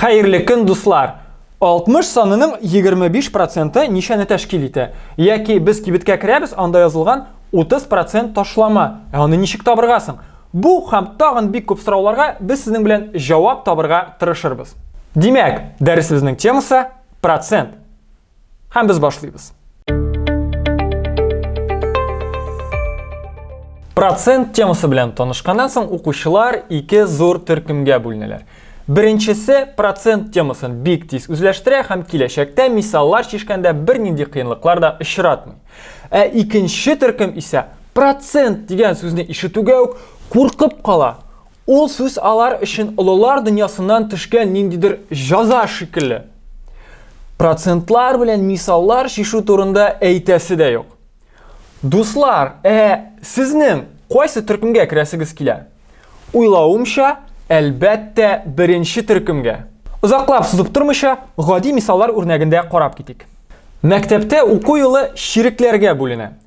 Хәерле көн, дуслар! 60 санының 25 проценты ничәне тәшкил итә? Яки без кибеткә керәбез, анда язылган 30 процент ташлама. Ә аны ничек табырга соң? Бу һәм тагын бик күп сорауларга без сезнең белән җавап табырга тырышырбыз. Димәк, дәресебезнең темасы процент. Һәм без башлыйбыз. Процент темасы белән танышканнан соң укучылар ике зур төркемгә бүленәләр. Беренчесе процент темасын бик тиз үзләштерә һәм киләчәктә мисаллар чишкәндә бернинди кыенлыклар да очратмый. Ә икенче төркем исә процент дигән сүзне ишетүгә үк куркып кала. Ул сүз алар өчен олылар дөньясыннан төшкән ниндидер җаза шикелле. Процентлар белән мисаллар чишү турында әйтәсе дә юк. Дуслар, ә сезнең кайсы төркемгә керәсегез килә? Уйлавымча, әлбәттә, беренче төркемгә. Озаклап сузып тормыйча, гади мисаллар үрнәгендә карап китик. Мәктәптә уку елы чирекләргә бүленә.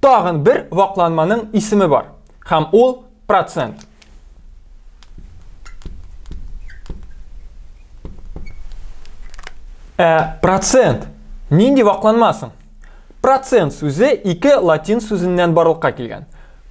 тагын бер вакланманың исеме бар. Һәм ул процент. Ә процент нинди вакланма соң? Процент сүзе ике латин сүзеннән барлыкка килгән.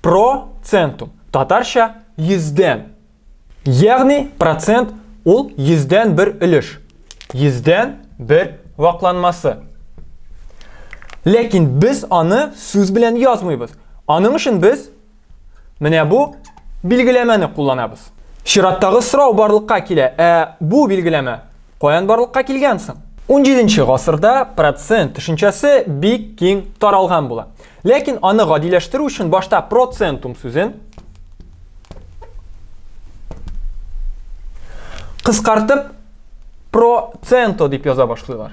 Процентум, татарча йөздән. Ягъни процент ул йөздән бер өлеш, йөздән бер вакланмасы. Ләкин без аны сүз белән язмыйбыз. Аның өчен без менә бу билгеләмәне кулланабыз. Чираттагы сорау барлыкка килә, ә бу билгеләмә каян барлыкка килгән соң? 17 нче гасырда процент төшенчәсе бик киң таралган була. Ләкин аны гадиләштерү өчен башта процентум сүзен кыскартып проценто дип яза башлыйлар.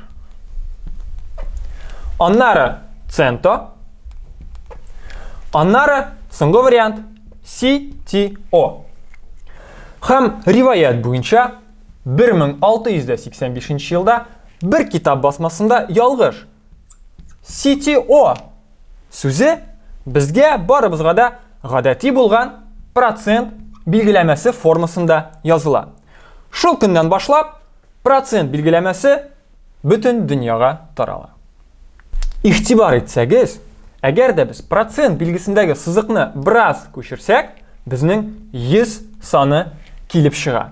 Аннары центо. Аннары соңгы вариант CTO. Хәм риваят буенча 1685 елда бер китап басмасында ялгыш CTO сүзе безгә барыбызга да гадәти булган процент билгеләмәсе формасында языла. Шул көннән башлап процент билгеләмәсе бөтен дөньяга тарала. Игътибар итсәгез, әгәр дә без процент билгесендәге сызыкны бераз күчерсәк, безнең 100 саны килеп чыга.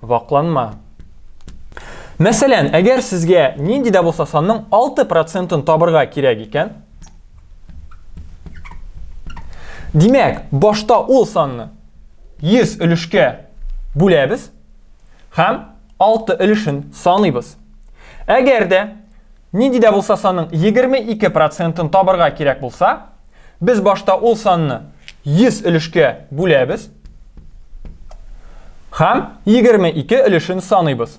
вакланма. Мәсәлән, әгәр сезгә нинди дә булса санның 6 процентын табырга кирәк икән, димәк, башта ул санны 100 өлешкә бүләбез һәм 6 өлешен саныйбыз. Әгәр дә Нинди дә булса санның 22 процентын табырга кирәк булса, без башта ул санны 100 өлешкә бүләбез һәм 22 өлешен саныйбыз.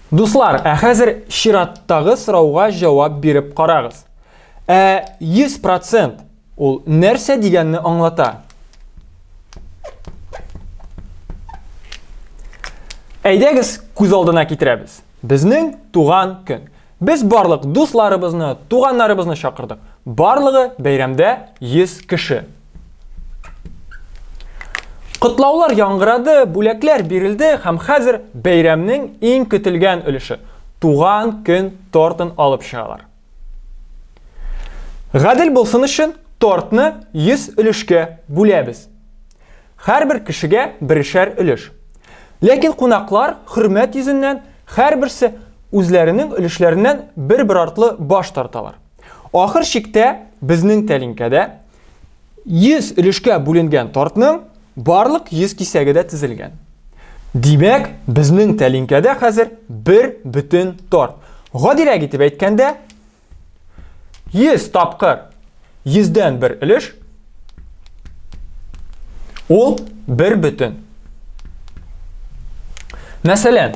Дуслар, ә хәзер чираттагы сорауга җавап биреп карагыз. Ә 100 процент Ул нәрсә дигәнне аңлата. Әйдәгез, күз алдына китерәбез. Безнең туган көн. Без барлык дусларыбызны, туганнарыбызны чакырдык. Барлыгы бәйрәмдә 100 кеше. Котлаулар яңгырады, бүләкләр бирелде һәм хәзер бәйрәмнең иң көтелгән өлеше туган көн тортын алып чыгалар. Гадел булсын өчен тортны 100 өлешкә бүләбез. Һәрбер кешегә берешәр өлеш. Ләкин кунаклар хөрмәт йөзеннән һәрберсе үзләренең өлешләреннән бер-бер артлы баш тарталар. Ахыр чиктә безнең тәлинкәдә 100 өлешкә бүленгән тортның барлык 100 кисәге дә тезелгән. Димәк, безнең тәлинкәдә хәзер бер бөтен торт. Гадирәк итеп әйткәндә, 100 тапкыр 100дән бер өлеш ул бер бөтен. Мәсәлән,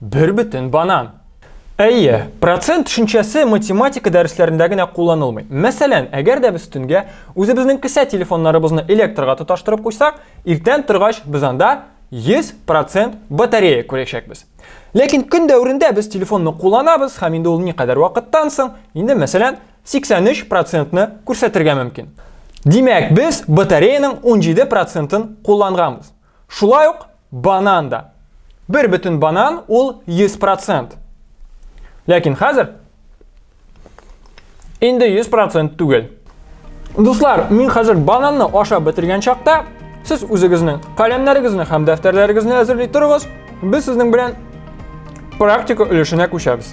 Бер бөтен банан. Әйе, процент төшенчәсе математика дәресләрендә генә кулланылмый. Мәсәлән, әгәр дә без төнгә үзебезнең кесә телефоннарыбызны электрга тоташтырып куйсак, иртән торгач без анда 100% батарея күрәчәкбез. Ләкин көн дәверендә без телефонны кулланабыз һәм инде ул никадәр вакыттан соң, инде мәсәлән, 83%-ны күрсәтергә мөмкин. Димәк, без батареяның 17%-ын кулланганбыз. Шулай ук банан да. Бер бөтен банан ул 100%. Ләкин хәзер инде 100% түгел. Дуслар, мин хәзер бананны ашап бетергән чакта, сез үзегезнең каләмнәрегезне һәм дәфтәрләрегезне әзерли торыгыз, без сезнең белән практика өлешенә күчәбез.